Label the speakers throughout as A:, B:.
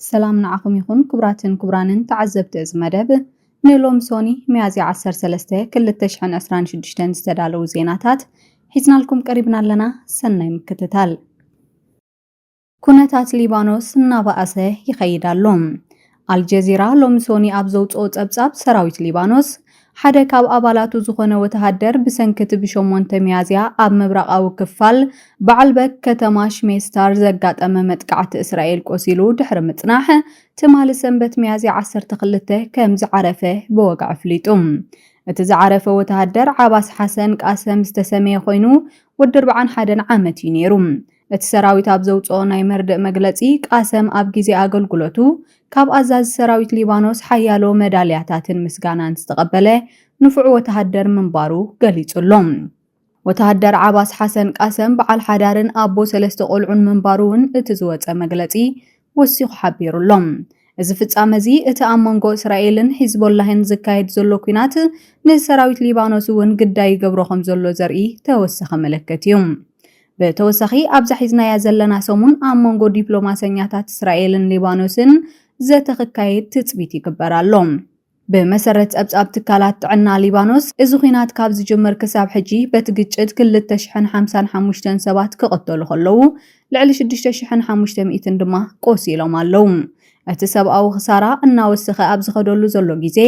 A: ሰላም ንዓኹም ይኹን ክቡራትን ክቡራንን ተዓዘብቲ እዚ መደብ ንሎሚ ሶኒ ሚያዝያ 13 2026 ዝተዳለዉ ዜናታት ሒዝናልኩም ቀሪብና ኣለና። ሰናይ ምክትታል። ኩነታት ሊባኖስ እናባኣሰ ይኸይድ ኣሎ። ኣልጀዚራ ሎሚ ሶኒ ኣብ ዘውጽኦ ጸብጻብ ሰራዊት ሊባኖስ ሓደ ካብ ኣባላቱ ዝኾነ ወተሃደር ብሰንኪ'ቲ ብሸሞንተ ሚያዝያ ኣብ ምብራቓዊ ክፋል ባዓልበክ ከተማ ሽሜስታር ዘጋጠመ መጥቃዕቲ እስራኤል ቆሲሉ ድሕሪ ምጽናሕ፣ ትማሊ ሰንበት ሚያዝያ ዓሰርተ ክልተ ከም ዝዓረፈ ብወግዒ ኣፍሊጡ። እቲ ዝዓረፈ ወተሃደር ዓባስ ሓሰን ቃሰም ዝተሰምየ ኮይኑ፣ ወዲ ኣርብዓን ሓደን ዓመት እዩ ነይሩ። እቲ ሰራዊት ኣብ ዘውጽኦ ናይ መርድእ መግለጺ፣ ቃሰም ኣብ ግዜ ኣገልግሎቱ ካብ ኣዛዚ ሰራዊት ሊባኖስ ሓያሎ መዳልያታትን ምስጋናን ዝተቐበለ ንፉዕ ወተሃደር ምንባሩ ገሊጹ ኣሎ። ወተሃደር ዓባስ ሓሰን ቃሰም በዓል ሓዳርን ኣቦ ሰለስተ ቆልዑን ምንባሩ'ውን እቲ ዝወጸ መግለጺ ወሲኹ ሓቢሩ ኣሎ። እዚ ፍጻመ እዚ እቲ ኣብ መንጎ እስራኤልን ሒዝቦላህን ዝካየድ ዘሎ ኲናት ንሰራዊት ሊባኖስ እውን ግዳይ ይገብሮ ከም ዘሎ ዘርኢ ተወሳኺ ምልክት እዩ። ብተወሳኺ ኣብዛ ሒዝናያ ዘለና ሰሙን ኣብ መንጎ ዲፕሎማሰኛታት እስራኤልን ሊባኖስን ዘተ ክካየድ ትጽቢት ይግበር ኣሎ። ብመሰረት ጸብጻብ ትካላት ጥዕና ሊባኖስ፣ እዚ ኲናት ካብ ዝጅምር ክሳብ ሕጂ በቲ ግጭት ክልተ ሽሕን ሓምሳን ሓሙሽተን ሰባት ክቕተሉ ከለዉ፣ ልዕሊ ሽዱሽተ ሽሕን ሓሙሽተ ሚእትን ድማ ቆሲሎም ኣለዉ። እቲ ሰብኣዊ ክሳራ እናወሰኸ ኣብ ዝኸደሉ ዘሎ ግዜ፣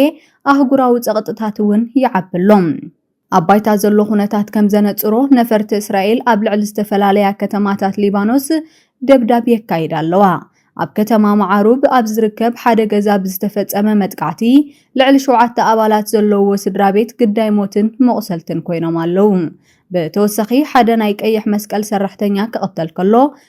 A: ኣህጉራዊ ጸቕጥታት'ውን ይዓቢ ኣሎ። ኣብ ባይታ ዘሎ ኩነታት ከም ዘነጽሮ፣ ነፈርቲ እስራኤል ኣብ ልዕሊ ዝተፈላለያ ከተማታት ሊባኖስ ደብዳብ የካይዳ ኣለዋ። ኣብ ከተማ መዓሩብ ኣብ ዝርከብ ሓደ ገዛ ብዝተፈጸመ መጥቃዕቲ፣ ልዕሊ ሸውዓተ ኣባላት ዘለውዎ ስድራቤት ግዳይ ሞትን መቑሰልትን ኮይኖም ኣለዉ። ብተወሳኺ፣ ሓደ ናይ ቀይሕ መስቀል ሰራሕተኛ ክቕተል ከሎ፣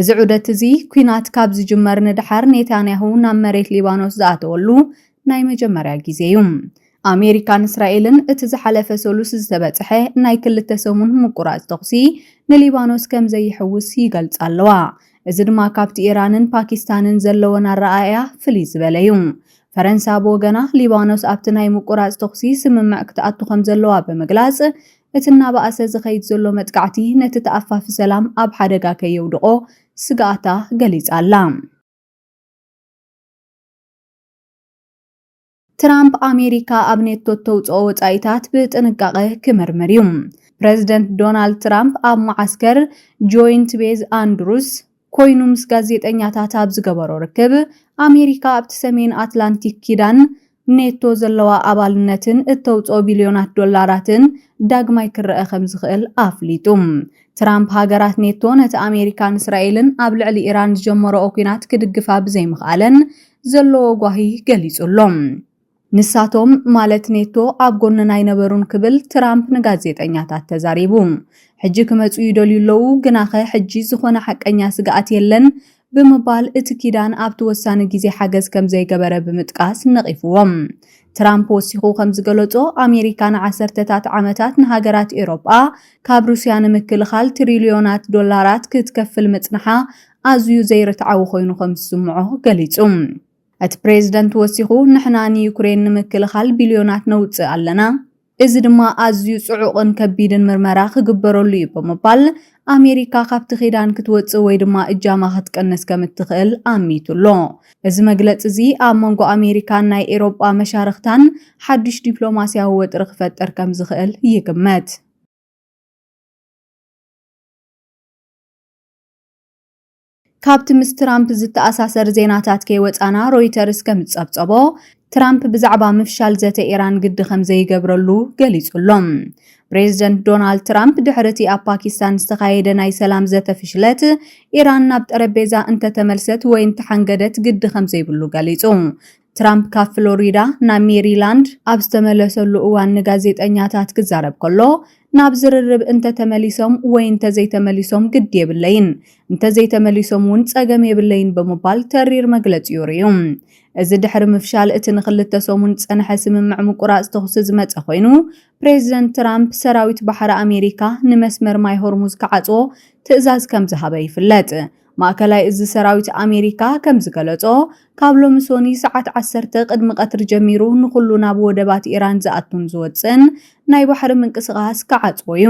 A: እዚ ዑደት እዚ ኲናት ካብ ዝጅመር ንደሓር ኔታንያሁ ናብ መሬት ሊባኖስ ዝኣተወሉ ናይ መጀመርያ ግዜ እዩ። ኣሜሪካን እስራኤልን እቲ ዝሓለፈ ሰሉስ ዝተበጽሐ ናይ ክልተ ሰሙን ምቁራጽ ተኹሲ ንሊባኖስ ከም ዘይሕውስ ይገልጻ ኣለዋ። እዚ ድማ ካብቲ ኢራንን ፓኪስታንን ዘለወን ኣረኣእያ ፍልይ ዝበለ እዩ። ፈረንሳ ብወገና ሊባኖስ ኣብቲ ናይ ምቁራጽ ተኹሲ ስምምዕ ክትኣቱ ከም ዘለዋ ብምግላጽ እቲ እናበኣሰ ዝኸይድ ዘሎ መጥቃዕቲ ነቲ ተኣፋፊ ሰላም ኣብ ሓደጋ ከየውድቖ ስግኣታ ገሊጻ'ላ። ትራምፕ ኣሜሪካ ኣብ ኔቶ እተውጽኦ ወጻኢታት ብጥንቃቐ ክምርምር እዩ። ፕረዚደንት ዶናልድ ትራምፕ ኣብ መዓስከር ጆይንት ቤዝ ኣንድሩዝ ኮይኑ ምስ ጋዜጠኛታት ኣብ ዝገበሮ ርክብ፣ ኣሜሪካ ኣብቲ ሰሜን ኣትላንቲክ ኪዳን ኔቶ ዘለዋ ኣባልነትን እተውጽኦ ቢልዮናት ዶላራትን ዳግማይ ክረኣ ከም ዝኽእል ኣፍሊጡ። ትራምፕ ሃገራት ኔቶ ነቲ ኣሜሪካን እስራኤልን ኣብ ልዕሊ ኢራን ዝጀመረኦ ኲናት ክድግፋ ብዘይምኽኣለን ዘለዎ ጓሂ ገሊጹ ኣሎ። ንሳቶም ማለት ኔቶ ኣብ ጎንና ኣይነበሩን ክብል ትራምፕ ንጋዜጠኛታት ተዛሪቡ። ሕጂ ክመጹ ይደልዩ ኣለዉ፣ ግናኸ ሕጂ ዝዀነ ሓቀኛ ስግኣት የለን ብምባል እቲ ኪዳን ኣብቲ ወሳኒ ግዜ ሓገዝ ከም ዘይገበረ ብምጥቃስ ነቒፍዎም። ትራምፕ ወሲኹ ከም ዝገለጾ፣ ኣሜሪካ ንዓሰርተታት ዓመታት ንሃገራት ኤውሮጳ ካብ ሩስያ ንምክልኻል ትሪልዮናት ዶላራት ክትከፍል ምጽንሓ ኣዝዩ ዘይርትዓዊ ኰይኑ ከም ዝስምዖ ገሊጹ። እቲ ፕሬዝደንት ወሲኹ፣ ንሕና ንዩክሬን ንምክልኻል ቢልዮናት ነውጽእ ኣለና፣ እዚ ድማ ኣዝዩ ጽዑቕን ከቢድን ምርመራ ክግበረሉ እዩ ብምባል፣ ኣሜሪካ ካብቲ ኪዳን ክትወጽእ ወይ ድማ እጃማ ክትቅንስ ከም እትኽእል ኣሚቱ ኣሎ። እዚ መግለጺ እዚ ኣብ መንጎ ኣሜሪካን ናይ ኤሮጳ መሻርኽታን ሓድሽ ዲፕሎማስያዊ ወጥሪ ክፈጥር ከም ዝኽእል ይግመት። ካብቲ ምስ ትራምፕ ዝተኣሳሰር ዜናታት ከይወጻና ሮይተርስ ከም ዝጸብጸቦ፣ ትራምፕ ብዛዕባ ምፍሻል ዘተ ኢራን ግዲ ከም ዘይገብረሉ ገሊጹ ኣሎ። ፕሬዝደንት ዶናልድ ትራምፕ ድሕሪ እቲ ኣብ ፓኪስታን ዝተኻየደ ናይ ሰላም ዘተ ፍሽለት፣ ኢራን ናብ ጠረጴዛ እንተተመልሰት ወይ እንተሓንገደት ግዲ ከም ዘይብሉ ገሊጹ። ትራምፕ ካብ ፍሎሪዳ ናብ ሜሪላንድ ኣብ ዝተመለሰሉ እዋን ንጋዜጠኛታት ክዛረብ ከሎ ናብ ዝርርብ እንተተመሊሶም ወይ እንተዘይተመሊሶም ግድ የብለይን፣ እንተዘይተመሊሶም እውን ጸገም የብለይን ብምባል ተሪር መግለጺኡ ርእዩ። እዚ ድሕሪ ምፍሻል እቲ ንኽልተ ሰሙን ዝጸንሐ ስምምዕ ምቁራጽ ተኹሲ ዝመጸ ኮይኑ፣ ፕሬዚደንት ትራምፕ ሰራዊት ባሕሪ ኣሜሪካ ንመስመር ማይ ሆርሙዝ ክዓጽዎ ትእዛዝ ከምዝሃበ ይፍለጥ። ማእከላይ እዚ ሰራዊት ኣሜሪካ ከም ዝገለጾ፣ ካብ ሎሚ ሶኒ ሰዓት ዓሰርተ ቅድሚ ቀትሪ ጀሚሩ ንኹሉ ናብ ወደባት ኢራን ዝኣቱን ዝወጽእን ናይ ባሕሪ ምንቅስቓስ ክዓጽዎ እዩ።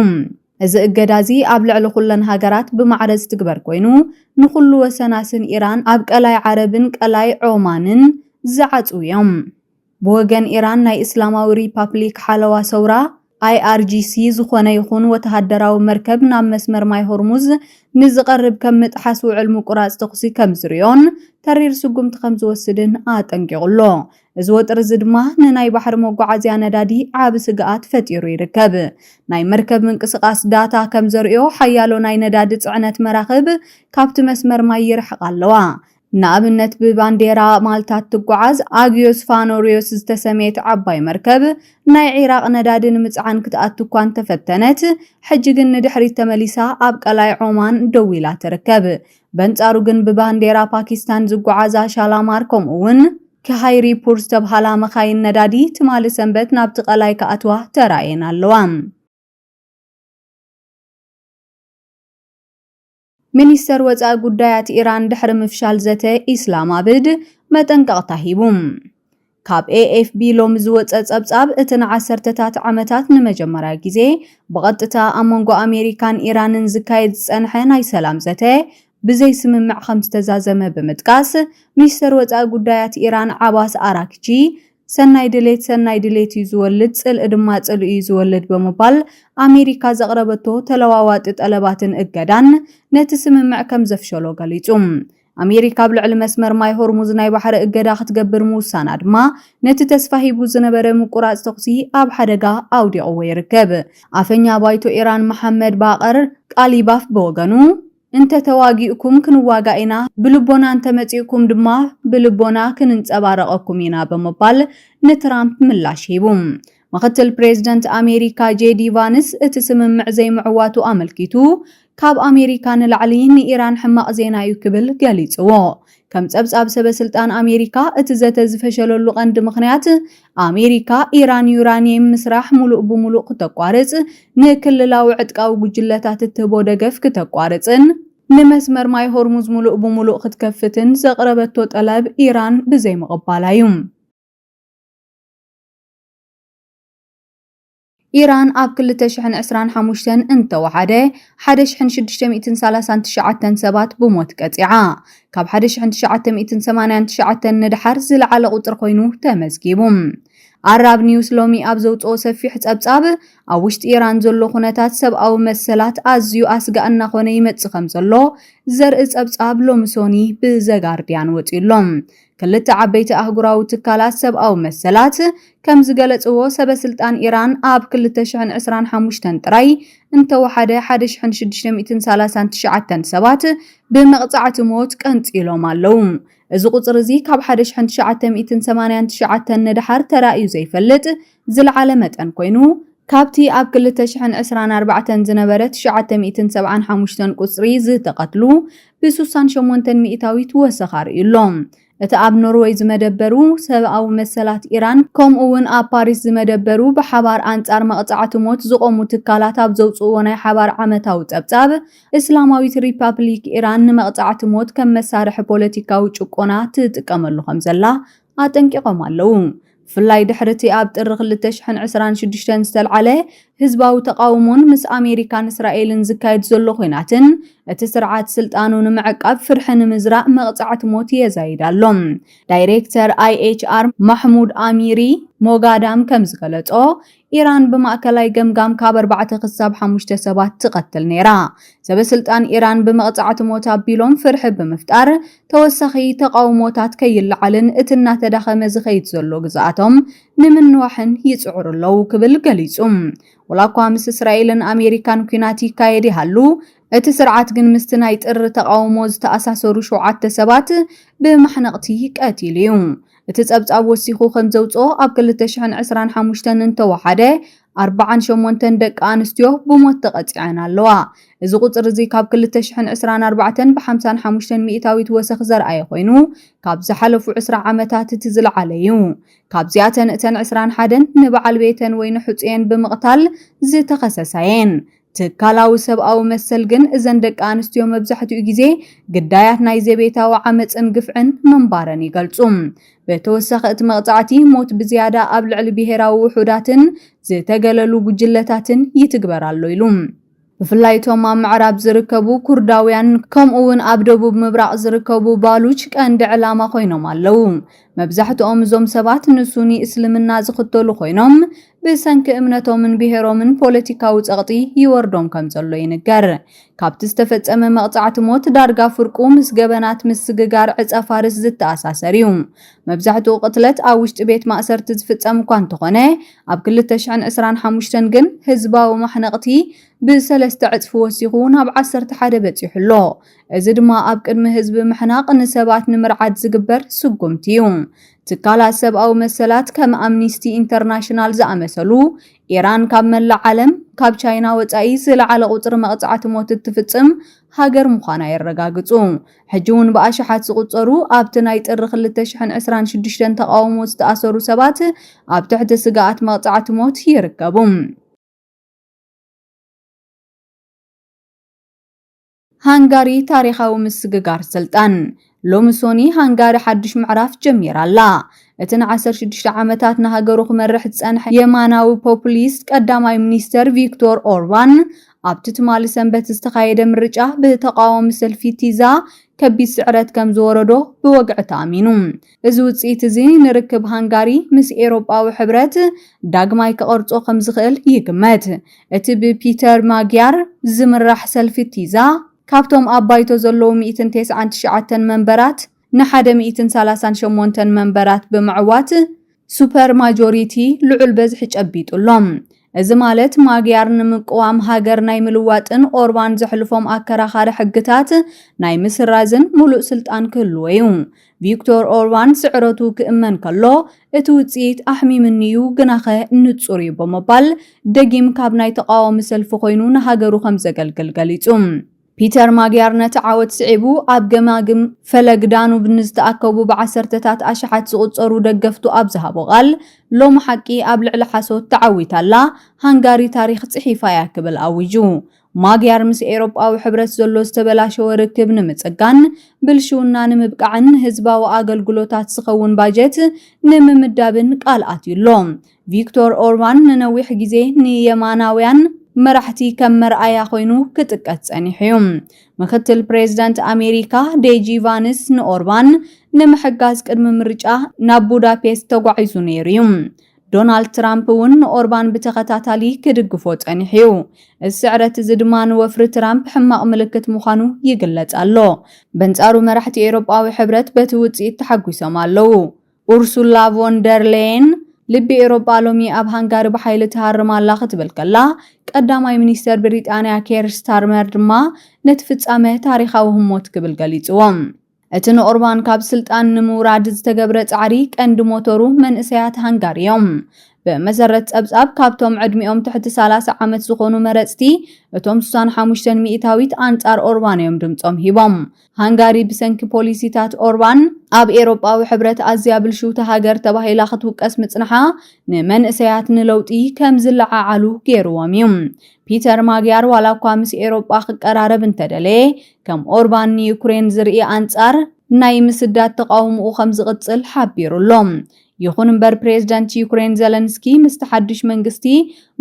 A: እዚ እገዳ እዚ ኣብ ልዕሊ ኩለን ሃገራት ብማዕረ ዝትግበር ኮይኑ፣ ንኹሉ ወሰናስን ኢራን ኣብ ቀላይ ዓረብን ቀላይ ዖማንን ዝዓጽው እዮም። ብወገን ኢራን ናይ እስላማዊ ሪፓፕሊክ ሓለዋ ሰውራ IRGC ዝኾነ ይኹን ወተሃደራዊ መርከብ ናብ መስመር ማይ ሆርሙዝ ንዝቐርብ ከም ምጥሓስ ውዕል ምቁራጽ ተኹሲ ከም ዝሪኦን ተሪር ስጉምቲ ከም ዝወስድን ኣጠንቂቑ ኣሎ። እዚ ወጥሪ እዚ ድማ ንናይ ባሕሪ መጓዓዝያ ነዳዲ ዓቢ ስግኣት ፈጢሩ ይርከብ። ናይ መርከብ ምንቅስቓስ ዳታ ከም ዘርእዮ ሓያሎ ናይ ነዳዲ ጽዕነት መራኽብ ካብቲ መስመር ማይ ይርሕቓ ኣለዋ። ንኣብነት ብባንዴራ ማልታ እትጓዓዝ ኣግዮስ ፋኖሪዮስ ዝተሰምየት ዓባይ መርከብ ናይ ዒራቕ ነዳዲ ንምጽዓን ክትኣቱ እኳ እንተፈተነት ሕጂ ግን ንድሕሪት ተመሊሳ ኣብ ቀላይ ዖማን ደው ኢላ ትርከብ። በንጻሩ ግን ብባንዴራ ፓኪስታን ዝጓዓዛ ሻላማር ከምኡ'ውን ኪሃይሪፑር ዝተብሃላ መኻይን ነዳዲ ትማሊ ሰንበት ናብቲ ቀላይ ክኣትዋ ተራእየን ኣለዋ። ሚኒስተር ወጻኢ ጉዳያት ኢራን ድሕሪ ምፍሻል ዘተ ኢስላማብድ መጠንቀቕታ ሂቡ። ካብ ኤኤፍቢ ሎሚ ዝወጸ ጸብጻብ እቲ ንዓሰርተታት ዓመታት ንመጀመርያ ግዜ ብቐጥታ ኣብ መንጎ ኣሜሪካን ኢራንን ዝካየድ ዝጸንሐ ናይ ሰላም ዘተ ብዘይ ስምምዕ ከም ዝተዛዘመ ብምጥቃስ፣ ሚኒስተር ወጻኢ ጉዳያት ኢራን ዓባስ ኣራክቺ ሰናይ ድሌት ሰናይ ድሌት እዩ ዝወልድ፣ ጽልኢ ድማ ጽልኢ እዩ ዝወልድ ብምባል፣ ኣሜሪካ ዘቕረበቶ ተለዋዋጢ ጠለባትን እገዳን ነቲ ስምምዕ ከም ዘፍሸሎ ገሊጹ። ኣሜሪካ ኣብ ልዕሊ መስመር ማይ ሆርሙዝ ናይ ባሕሪ እገዳ ክትገብር ምውሳና ድማ ነቲ ተስፋ ሂቡ ዝነበረ ምቁራጽ ተኹሲ ኣብ ሓደጋ ኣውዲቕዎ ይርከብ። ኣፈኛ ባይቶ ኢራን መሓመድ ባቐር ቃሊባፍ ብወገኑ፣ እንተ ተዋጊእኩም ክንዋጋእ ኢና፣ ብልቦና እንተ መጺእኩም ድማ ብልቦና ክንንጸባረቐኩም ኢና ብምባል ንትራምፕ ምላሽ ሂቡ። ምኽትል ፕሬዝደንት ኣሜሪካ ጄዲ ቫንስ እቲ ስምምዕ ዘይምዕዋቱ ኣመልኪቱ ካብ ኣሜሪካ ንላዕሊ ንኢራን ሕማቕ ዜና'ዩ ክብል ገሊጽዎ። ከም ጸብጻብ ሰበስልጣን ኣሜሪካ፣ እቲ ዘተ ዝፈሸለሉ ቀንዲ ምኽንያት፣ ኣሜሪካ ኢራን ዩራኒየም ምስራሕ ሙሉእ ብሙሉእ ክተቋርጽ፣ ንክልላዊ ዕጥቃዊ ጉጅለታት እትህቦ ደገፍ ክተቋርጽን ንመስመር ማይ ሆርሙዝ ሙሉእ ብሙሉእ ክትከፍትን ዘቕረበቶ ጠለብ ኢራን ብዘይምቕባላ'ዩ። ኢራን ኣብ ክልተ ሽሕን ዕስራን ሓሙሽተን እንተወሓደ ሓደ ሽሕን ሽዱሽተ ሚእትን ሰላሳን ትሽዓተን ሰባት ብሞት ቀጺዓ። ካብ ሓደ ሽሕን ትሽዓተ ሚእትን ሰማንያን ትሽዓተን ንደሓር ዝለዓለ ቁጽሪ ኮይኑ ተመዝጊቡ። ኣራብ ኒውስ ሎሚ ኣብ ዘውጽኦ ሰፊሕ ጸብጻብ፣ ኣብ ውሽጢ ኢራን ዘሎ ኩነታት ሰብኣዊ መሰላት ኣዝዩ ኣስጋእ እናኾነ ይመጽእ ከምዘሎ ዘርኢ ጸብጻብ ሎሚ ሶኒ ብዘጋርድያን ወጺኡ'ሎ። ክልተ ዓበይቲ ኣህጉራዊ ትካላት ሰብኣዊ መሰላት ከም ዝገለጽዎ፣ ሰበስልጣን ኢራን ኣብ ክልተ ሽሕን ዕስራን ሓሙሽተን ጥራይ እንተወሓደ ሓደ ሽሕን ሽዱሽተ ሚእትን ሰላሳን ትሽዓተን ሰባት ብመቕጻዕቲ ሞት ቀንጺሎም ኣለዉ። እዚ ቁጽሪ እዚ ካብ ሓደ ሽሕን ትሽዓተ ሚእትን ሰማንያን ትሽዓተን ንደሓር ተራእዩ ዘይፈልጥ ዝለዓለ መጠን ኮይኑ፣ ካብቲ ኣብ ክልተ ሽሕን ዕስራን ኣርባዕተን ዝነበረ ትሽዓተ ሚእትን ሰብዓን ሓሙሽተን ቁጽሪ ዝተቐትሉ ብሱሳን ሸሞንተን ሚኢታዊት ወሰኽ ኣርእዩ ኣሎ። እቲ ኣብ ኖርወይ ዝመደበሩ ሰብኣዊ መሰላት ኢራን ከምኡ'ውን ኣብ ፓሪስ ዝመደበሩ ብሓባር ኣንጻር መቕጻዕቲ ሞት ዝቖሙ ትካላት ኣብ ዘውጽእዎ ናይ ሓባር ዓመታዊ ጸብጻብ፣ እስላማዊት ሪፓፕሊክ ኢራን ንመቕጻዕቲ ሞት ከም መሳርሒ ፖለቲካዊ ጭቆና ትጥቀመሉ ከምዘላ ኣጠንቂቖም ኣለዉ። ብፍላይ ድሕሪ'ቲ ኣብ ጥሪ ክልተ ሽሕን ዕስራን ሽዱሽተን ዝተልዓለ ህዝባዊ ተቓውሞን ምስ ኣሜሪካን እስራኤልን ዝካየድ ዘሎ ኲናትን፣ እቲ ስርዓት ስልጣኑ ንምዕቃብ ፍርሒ ንምዝራእ መቕጻዕቲ ሞት የዛይድ ኣሎ። ዳይሬክተር ኣይኤችኣር ማሕሙድ ኣሚሪ ሞጋዳም ከም ዝገለጾ፣ ኢራን ብማእከላይ ገምጋም ካብ ኣርባዕተ ክሳብ ሓሙሽተ ሰባት ትቐትል ነይራ። ሰበስልጣን ኢራን ብመቕጻዕቲ ሞት ኣቢሎም ፍርሒ ብምፍጣር ተወሳኺ ተቓውሞታት ከይለዓልን እቲ እናተዳኸመ ዝኸይድ ዘሎ ግዝኣቶም ንምንዋሕን ይጽዕሩ ኣለዉ ክብል ገሊጹ። ወላኳ ምስ እስራኤልን ኣሜሪካን ኲናት ይካየድ ይሃሉ፣ እቲ ስርዓት ግን ምስቲ ናይ ጥሪ ተቓውሞ ዝተኣሳሰሩ ሸውዓተ ሰባት ብማሕነቕቲ ቀቲሉ እዩ። እቲ ጸብጻብ ወሲኹ ከም ዘውጽኦ ኣብ ክልተ ሽሕን ዕስራን ሓሙሽተን እንተወሓደ ኣርብዓን ሸሞንተን ደቂ ኣንስትዮ ብሞት ተቐጺዐን ኣለዋ። እዚ ቁጽሪ እዚ ካብ ክልተ ሽሕን ዕስራን ኣርባዕተን ብሓምሳን ሓሙሽተን ሚእታዊት ወሰኽ ዘርኣየ ኮይኑ ካብ ዝሓለፉ ዕስራ ዓመታት እቲ ዝለዓለ እዩ። ካብዚኣተን እተን ዕስራን ሓደን ንበዓል ቤተን ወይ ንሕጹየን ብምቕታል ዝተኸሰሳ'የን። ትካላዊ ሰብኣዊ መሰል ግን እዘን ደቂ ኣንስትዮ መብዛሕትኡ ግዜ ግዳያት ናይ ዘቤታዊ ዓመጽን ግፍዕን ምንባረን ይገልጹ። ብተወሳኺ እቲ መቕጻዕቲ ሞት ብዝያዳ ኣብ ልዕሊ ብሄራዊ ውሑዳትን ዝተገለሉ ጉጅለታትን ይትግበር ኣሎ ኢሉ። ብፍላይ እቶም ኣብ ምዕራብ ዝርከቡ ኩርዳውያን ከምኡ'ውን ኣብ ደቡብ ምብራቕ ዝርከቡ ባሉች ቀንዲ ዕላማ ኮይኖም ኣለዉ። መብዛሕትኦም እዞም ሰባት ንሱኒ እስልምና ዝኽተሉ ኮይኖም፣ ብሰንኪ እምነቶምን ብሄሮምን ፖለቲካዊ ጸቕጢ ይወርዶም ከም ዘሎ ይንገር። ካብቲ ዝተፈጸመ መቕጻዕቲ ሞት ዳርጋ ፍርቁ ምስ ገበናት ምስግጋር ዕጸፋርስ ዝተኣሳሰር እዩ። መብዛሕትኡ ቅትለት ኣብ ውሽጢ ቤት ማእሰርቲ ዝፍጸም እኳ እንተኾነ፣ ኣብ ክልተ ሽሕን ዕስራን ሓሙሽተን ግን ህዝባዊ ማሕነቕቲ ብሰለስተ ዕጽፊ ወሲኹ ናብ ዓሰርተ ሓደ በጺሑ ኣሎ። እዚ ድማ ኣብ ቅድሚ ህዝቢ ምሕናቕ ንሰባት ንምርዓድ ዝግበር ስጉምቲ እዩ። ትካላት ሰብኣዊ መሰላት ከም ኣምኒስቲ ኢንተርናሽናል ዝኣመሰሉ፣ ኢራን ካብ መላእ ዓለም፣ ካብ ቻይና ወጻኢ ዝለዓለ ቁጽሪ መቕጻዕቲ ሞት እትፍጽም ሃገር ምዃና የረጋግጹ። ሕጂ'ውን ብኣሽሓት ዝቑጸሩ ኣብቲ ናይ ጥሪ ክልተ ሽሕን ዕስራን ሽዱሽተን ተቓውሞ ዝተኣሰሩ ሰባት ኣብ ትሕቲ ስግኣት መቕጻዕቲ ሞት ይርከቡ። ሃንጋሪ ታሪኻዊ ምስግጋር ስልጣን። ሎሚ ሶኒ ሃንጋሪ ሓድሽ ምዕራፍ ጀሚራ ኣላ። እቲ ንዓሰርተ ሽዱሽተ ዓመታት ንሃገሩ ክመርሕ ዝጸንሐ የማናዊ ፖፑሊስት ቀዳማይ ሚኒስተር ቪክቶር ኦርባን ኣብቲ ትማሊ ሰንበት ዝተኻየደ ምርጫ ብተቓዋሚ ሰልፊ ቲዛ ከቢድ ስዕረት ከም ዝወረዶ ብወግዒ ተኣሚኑ። እዚ ውጽኢት እዚ ንርክብ ሃንጋሪ ምስ ኤውሮጳዊ ሕብረት ዳግማይ ክቐርጾ ከም ዝኽእል ይግመት። እቲ ብፒተር ማጊያር ዝምራሕ ሰልፊ ቲዛ፣ ካብቶም ኣብ ባይቶ ዘለዉ ሚእትን ቴስዓን ትሽዓተን መንበራት ንሓደ ሚእትን ሰላሳን ሸሞንተን መንበራት ብምዕዋት፣ ሱፐር ማጆሪቲ፣ ልዑል በዝሒ ጨቢጡ ኣሎ። እዚ ማለት ማግያር ንምቅዋም ሃገር ናይ ምልዋጥን ኦርባን ዘሕልፎም ኣከራኻሪ ሕግታት ናይ ምስራዝን ሙሉእ ስልጣን ክህልዎ እዩ። ቪክቶር ኦርባን ስዕረቱ ክእመን ከሎ እቲ ውጽኢት ኣሕሚምኒ እዩ ግናኸ ንጹር እዩ ብምባል ደጊም ካብ ናይ ተቓዋሚ ሰልፊ ኮይኑ ንሃገሩ ከምዘገልግል ገሊጹ። ፒተር ማግያር ነቲ ዓወት ስዒቡ ኣብ ገማግም ፈለግ ዳኑብ ንዝተኣከቡ ብዓሰርተታት ኣሽሓት ዝቑጸሩ ደገፍቱ ኣብ ዝሃቦ ቃል፣ ሎሚ ሓቂ ኣብ ልዕሊ ሓሶት ተዓዊታ ኣላ፣ ሃንጋሪ ታሪኽ ጽሒፋ እያ ክብል ኣዊጁ። ማግያር ምስ ኤውሮጳዊ ሕብረት ዘሎ ዝተበላሸወ ርክብ ንምጽጋን፣ ብልሽውና ንምብቃዕን ንህዝባዊ ኣገልግሎታት ዝኸውን ባጀት ንምምዳብን ቃል ኣትዩ ኣሎ። ቪክቶር ኦርባን ንነዊሕ ግዜ ንየማናውያን መራሕቲ ከም መርኣያ ኮይኑ ክጥቀስ ጸኒሑ እዩ። ምክትል ፕሬዝደንት ኣሜሪካ ዴጂ ቫንስ ንኦርባን ንምሕጋዝ ቅድሚ ምርጫ ናብ ቡዳፔስት ተጓዒዙ ነይሩ እዩ። ዶናልድ ትራምፕ እውን ንኦርባን ብተኸታታሊ ክድግፎ ጸኒሑ እዩ። እዚ ስዕረት እዚ ድማ ንወፍሪ ትራምፕ ሕማቕ ምልክት ምዃኑ ይግለጽ ኣሎ። በንጻሩ መራሕቲ ኤውሮጳዊ ሕብረት በቲ ውጽኢት ተሓጒሶም ኣለዉ። ኡርሱላ ቮን ደር ሌየን፣ ልቢ ኤውሮጳ ሎሚ ኣብ ሃንጋሪ ብሓይሊ ትሃርም ኣላ ክትብል ከላ፣ ቀዳማይ ሚኒስተር ብሪጣንያ ኬር ስታርመር ድማ ነቲ ፍጻመ ታሪኻዊ ህሞት ክብል ገሊጽዎ። እቲ ንኦርባን ካብ ስልጣን ንምውራድ ዝተገብረ ጻዕሪ ቀንዲ ሞቶሩ መንእሰያት ሃንጋሪ እዮም። ብመሰረት ጸብጻብ፣ ካብቶም ዕድሚኦም ትሕቲ ሰላሳ ዓመት ዝኾኑ መረጽቲ፣ እቶም ስሳን ሓሙሽተን ሚእታዊት ኣንጻር ኦርባን እዮም ድምጾም ሂቦም። ሃንጋሪ ብሰንኪ ፖሊሲታት ኦርባን ኣብ ኤሮጳዊ ሕብረት ኣዝያ ብልሽውቲ ሃገር ተባሂላ ክትውቀስ ምጽንሓ ንመንእሰያት ንለውጢ ከም ዝለዓዓሉ ገይርዎም እዩ። ፒተር ማግያር ዋላ እኳ ምስ ኤሮጳ ክቀራረብ እንተደለየ ከም ኦርባን ንዩክሬን ዝርኢ ኣንጻር ናይ ምስዳድ ተቓውምኡ ከም ዝቕጽል ሓቢሩ ኣሎ። ይኹን እምበር ፕሬዝደንት ዩክሬን ዘለንስኪ ምስቲ ሓድሽ መንግስቲ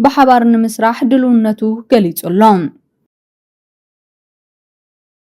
A: ብሓባር ንምስራሕ ድልውነቱ ገሊጹ ኣሎ።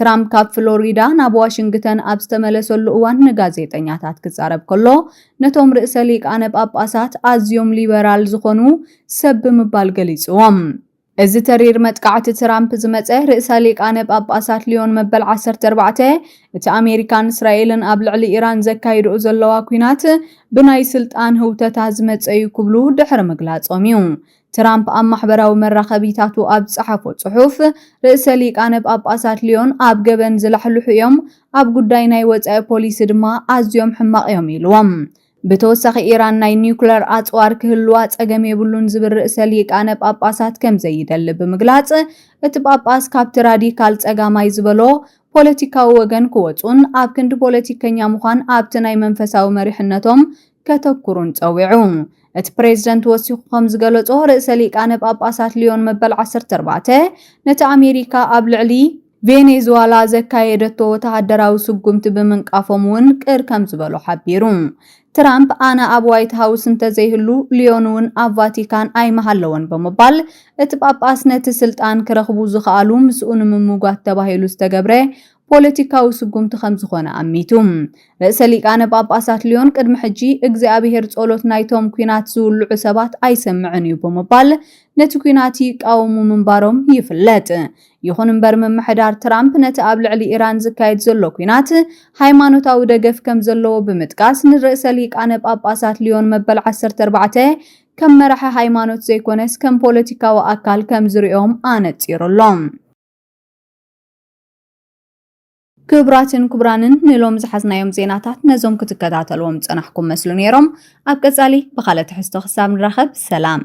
A: ትራምፕ ካብ ፍሎሪዳ ናብ ዋሽንግተን ኣብ ዝተመለሰሉ እዋን ንጋዜጠኛታት ክዛረብ ከሎ ነቶም ርእሰ ሊቃነ ጳጳሳት ኣዝዮም ሊበራል ዝኾኑ ሰብ ብምባል ገሊጽዎም። እዚ ተሪር መጥቃዕቲ ትራምፕ ዝመጸ ርእሰ ሊቃነ ጳጳሳት ልዮን መበል ዓሰርተ ኣርባዕተ እቲ ኣሜሪካን እስራኤልን ኣብ ልዕሊ ኢራን ዘካይድኡ ዘለዋ ኲናት ብናይ ስልጣን ህውተታ ዝመጸ እዩ ክብሉ ድሕሪ ምግላጾም እዩ። ትራምፕ ኣብ ማሕበራዊ መራኸቢታቱ ኣብ ዝጸሓፎ ጽሑፍ፣ ርእሰ ሊቃነ ጳጳሳት ልዮን ኣብ ገበን ዝላሕልሑ እዮም፣ ኣብ ጉዳይ ናይ ወጻኢ ፖሊሲ ድማ ኣዝዮም ሕማቕ እዮም ኢሉዎም። ብተወሳኺ ኢራን ናይ ኒዩክለር ኣጽዋር ክህልዋ ጸገም የብሉን ዝብል ርእሰ ሊቃነ ጳጳሳት ከም ዘይደሊ ብምግላጽ፣ እቲ ጳጳስ ካብቲ ራዲካል ጸጋማይ ዝበሎ ፖለቲካዊ ወገን ክወጹን ኣብ ክንዲ ፖለቲከኛ ምዃን ኣብቲ ናይ መንፈሳዊ መሪሕነቶም ከተኩሩን ጸዊዑ። እቲ ፕሬዝደንት ወሲኹ ከም ዝገለጾ፣ ርእሰ ሊቃነ ጳጳሳት ልዮን መበል ዓሰርተ ኣርባዕተ ነቲ ኣሜሪካ ኣብ ልዕሊ ቬኔዝዋላ ዘካየደቶ ወተሃደራዊ ስጉምቲ ብምንቃፎም እውን ቅር ከም ዝበሎ ሓቢሩ። ትራምፕ ኣነ ኣብ ዋይት ሃውስ እንተዘይህሉ ልዮን እውን ኣብ ቫቲካን ኣይምሃለወን ብምባል እቲ ጳጳስ ነቲ ስልጣን ክረኽቡ ዝኸኣሉ ምስኡ ንምምጓት ተባሂሉ ዝተገብረ ፖለቲካዊ ስጉምቲ ከም ዝኾነ ኣሚቱ። ርእሰ ሊቃነ ጳጳሳት ልዮን ቅድሚ ሕጂ እግዚኣብሔር ጸሎት ናይቶም ኲናት ዝውልዑ ሰባት ኣይሰምዕን እዩ ብምባል ነቲ ኲናት ይቃወሙ ምንባሮም ይፍለጥ። ይኹን እምበር ምምሕዳር ትራምፕ ነቲ ኣብ ልዕሊ ኢራን ዝካየድ ዘሎ ኲናት ሃይማኖታዊ ደገፍ ከም ዘለዎ ብምጥቃስ ንርእሰ ሊቃነ ጳጳሳት ልዮን መበል ዓሰርተ ኣርባዕተ ከም መራሒ ሃይማኖት ዘይኮነስ ከም ፖለቲካዊ ኣካል ከም ዝርእዮም ኣነጺሩ ኣሎ። ክብራትን ክብራንን ንሎም ዝሓዝናዮም ዜናታት ነዞም ክትከታተልዎም ዝጸናሕኩም መስሉ ነይሮም። ኣብ ቀጻሊ ብኻልእ ትሕዝቶ ክሳብ ንራኸብ ሰላም።